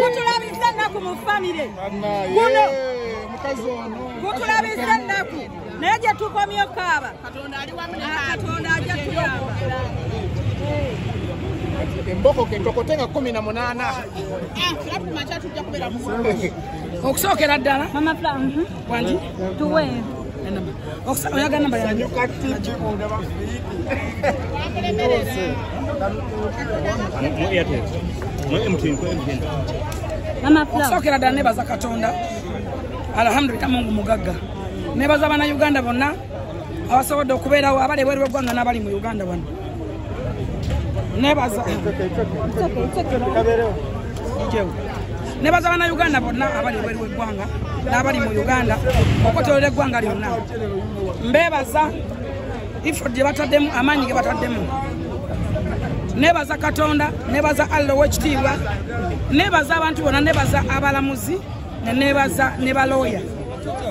gutulabisa ennaku mu famire guno gutulabisa ennaku naye gye tukomye okaaba katonda ali wamu katonda ajja tuyamba emboko kentokote nga kumi na munaana ah, okusookera ddala Wanji? Tuwe. Oksa oyaga namba ya. Sanyu kati jibu na mafiki. Mama Flo. Oksa okera dane baza katonda. Alhamdulillah Mungu mugagga. Nebaza bana Uganda bonna abasobodde okubeerawo abali ebweru w'eggwanga n'abali mu Uganda wano. Nebaza. It's okay, it's okay. It's okay. It's okay. It's okay. nebaza banauganda bonna abali ebweru weggwanga n'abali mu uganda okotolera eggwanga lyonna mbebaza ifo gye bataddemu amaanyi ge bataddemu nebaza katonda nebaza allah owekitiibwa nebaza abantu bona nebaza abalamuzi nenebaza ne balooya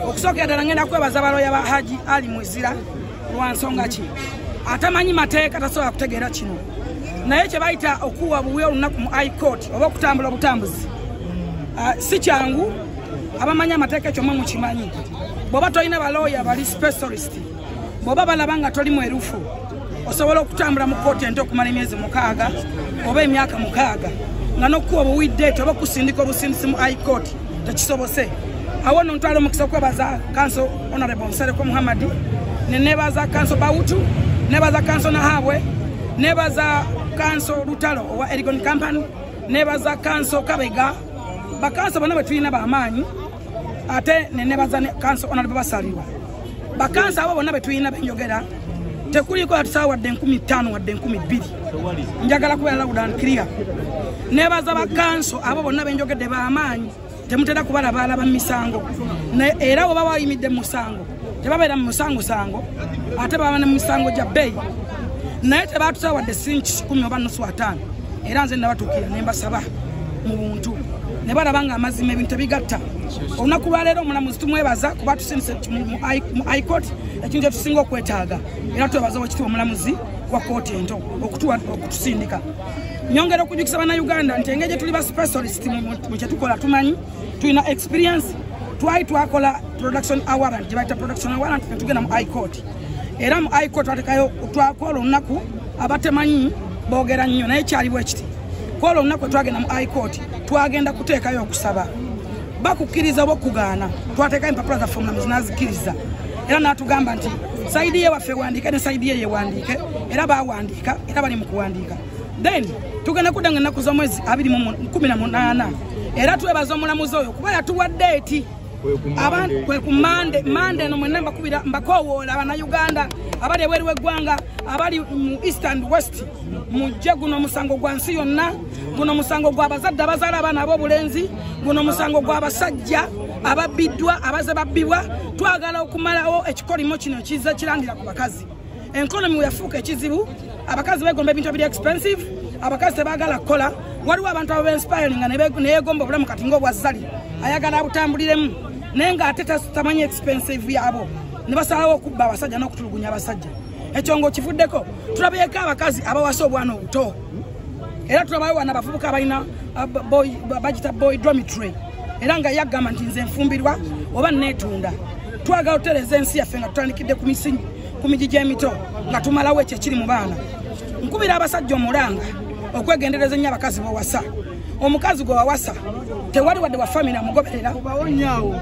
okusookera ddala ngenda kwebaza balooya ba haji ali mwezira lwansonga ki atamanyi mateeka tasobola kutegeera kino naye kyebayita okuwa buwi olunaku mu i court oba okutambula obutambuzi ah, si kyangu abamanyi amateeka ekyo mwe mukimanyi bwoba tolina balooya bali specialist bwoba balaba nga toli mwerufu osobola okutambula mu kooti ente okumala emyezi mukaaga oba emyaka mukaaga nga nokukuwa obuwiddeeti oba okusindika obusindisi mu i court tekisobose awo no ntwala omukisa okwebaza kanso honorable nsereko muhammadi nenebaza kanso bawutu nebaza kanso nahabwe nebaza kanso lutalo owa erigon company nebaza kanso kabega bakanso bona bwetulina bamaanyi ate nenebaza kanso honorable basalirwa bakansa abo bonna betulina benjogera tekuliiko yatusawo wadde enkumi ttaano wadde enkumi bbiri njagala kubeera lawudan clear nebaza bakanso abo bonna benjogedde bamaanyi temutera kubalabaala ba misango era oba wayimidde musango tebabeera mu musangosango ate baba ne mumisango gya bbeeyi naye tebatusawo wadde sinki kikumi oba nusu ataano era nze nabatukira nembasaba mu buntu ne balaba nga amazima ebintu tebigatta olunaku lwaleero omulamuzi tumwebaza kuba tusindise mu icourt ekintu kyetusinga okwetaaga era twebaza wakitiwa omulamuzi wa kooti ento okutuwa okutusindika nyongera okujukisa banauganda nti engeri gyetuli ba specialist mu kyetukola tumanyi tulina experience twali twakola production awarant gyebayita production awarant netugenda mu icourt era mu icourt twatekayo twakola olunaku abatemanyi bogera nnyo naye kyali bwekiti kwolwo olunaku etwagenda mu high court twagenda kuteekayo okusaba bakukkiriza oba okugaana twateekayo empapula zaffe omulamuzi nazikkiriza era natugamba nti saidi ye waffe wandiike ne saidi ye yewandiike era bawandiika era bali mu kuwandiika then tugenda kudda nga ennaku z'omwezi abiri mu kumi na munaana era twebaza omulamuzi oyo kuba yatuwadde eti kwe ku mande mande eno mwena mbakubira mbakowoola abanauganda abali ebweru w'eggwanga abali mu east and west mujje guno musango gwa nsi yonna guno musango gwa bazadde abazaala abaana ab'obulenzi guno musango gwa basajja ababbiddwa abaze babbibwa twagala okumalawo ekikolimo kino kiza kirangira ku bakazi enkolomi weyafuuka ekizibu abakazi begomba ebintu ebiri expensive abakazi tebagala kukola waliwo abantu ababenspiringa neyegomba obulamu kati ngaobwa zali ayagala abutambuliremu naye nga ate tamanyi expensive yabo nebasalawo okubba abasajja n'okutulugunya abasajja ekyo nga okivuddeko tulabyeko abakazi abawasa obwana obuto era tulabawo wana abavubuka abalina uh, bagita boy dormitory era nga yagamba nti nze nfumbirwa oba netunda twagala otereza ensi yaffe nga tutandikidde ku misinyi ku miji gy'emito nga tumalawo ekyo ekiri mu baana nkubira abasajja omulanga okwegendereza ennyo abakazi bawasa omukazi gwe wawasa tewali wadde wafamina amugoberera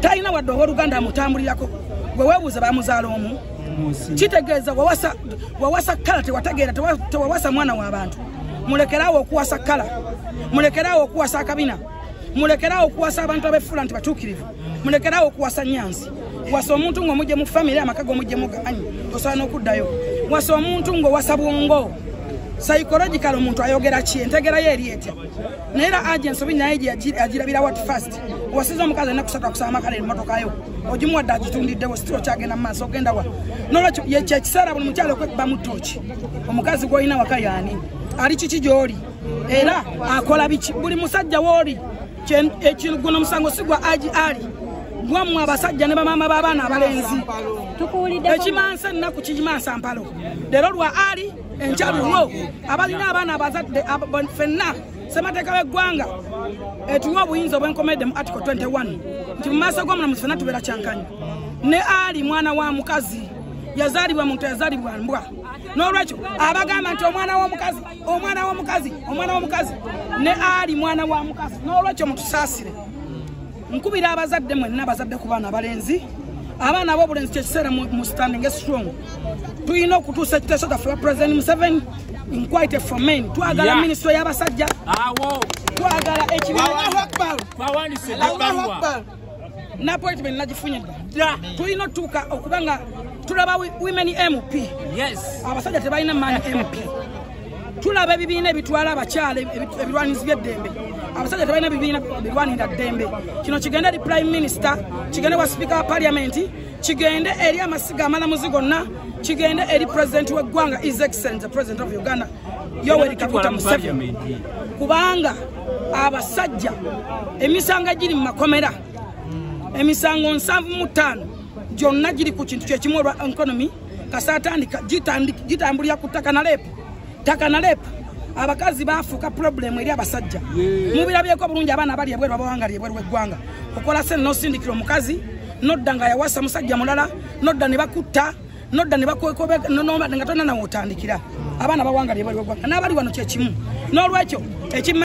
talina wadde owooluganda amutambulirako gwe weebuuza bamuzaala omu kitegeeza wawasa kala tewategeera tewawasa mwana w'abantu mulekeraawo okuwasa kala mulekeraawo okuwasa akabina mulekerawo okuwasa abantu abefuula nti batuukirivu mulekerawo okuwasa nyansi wasa omuntu ngaomujje mu famiry amaka gomujje mugamanyi osobola n'okuddayo wasa omuntu ngaowasa bwongo psychological omuntu ayogera ki entegerayo eri etya naye era agents obi naye agirabira wat fast wasiza omukazi alina kusatu akusaba amakala emotokayo ogimuwadde agitundiddewo sitira okyagenda mu maaso ogenda wa nolwekyo kyekiseera buli mukyalo okwekubamu tooki omukazi gwolina waka yaani ali kiki gyoli era akola biki buli musajja wooli ekiguno musango sigwa aji ali gwammwe abasajja ne bamaama b'abaana abalenzi ekimansa ennaku kigimansa mpalo leero lwa ali enkyaluwo abalina abaana abazadde fenna semateeka w'eggwanga etuwa obuyinza obwenkomedde mu article 21 nti mu maaso g'omulamuzi fenna tubeera kyankanyi ne ali mwana wa mukazi yazaalibwa muntu yazaalibwa mbwa n'olwekyo abagamba nti omwana w'omukazi omwana womukazi omwana womukazi ne ali mwana wa mukazi nolwekyo mutusaasire nkubira abazadde mwenna abazadde ku baana abalenzi abaana abobulenzi kyekiseera mu standing strong tulina okutuusa ekiteeso taffe ba president museven inquite for men twagala yeah. ministry y'abasajja twagala ekibiaakbar na appointment nagifunye dda tulina otuuka okuba nga tulaba women mp abasajja tebalina man mp tulaba ebibiina ebitwala abakyala ebirwanizi byeddembe abasajja tebalina bibiina birwanira ddembe kino kigende eri prime minister kigende wa sipiika wa paliamenti kigende eri amasiga amalamuzi gonna kigende eri president weggwanga is excellent the president of uganda yoweri kaguta museveni kubanga abasajja emisango egiri mu makomera emisango nsanvu mu ttaano gyonna giri ku kintu kyekimu olwa enkonomi kasa atandika gitambulira ku ttaka na leepu ttaka na leepu abakazi bafuuka pulobulemu eri abasajja mubirabyeko bulungi abaana bali ebweru abawanga li ebweru weggwanga okola sente nosindikira omukazi nodda nga yawasa musajja mulala nodda ne bakutta nodda ne bakwekobe nga tonna nawe otandikira abaana bawanga lye bali wagwanga n'abali wano kye kimu n'olwekyo ekima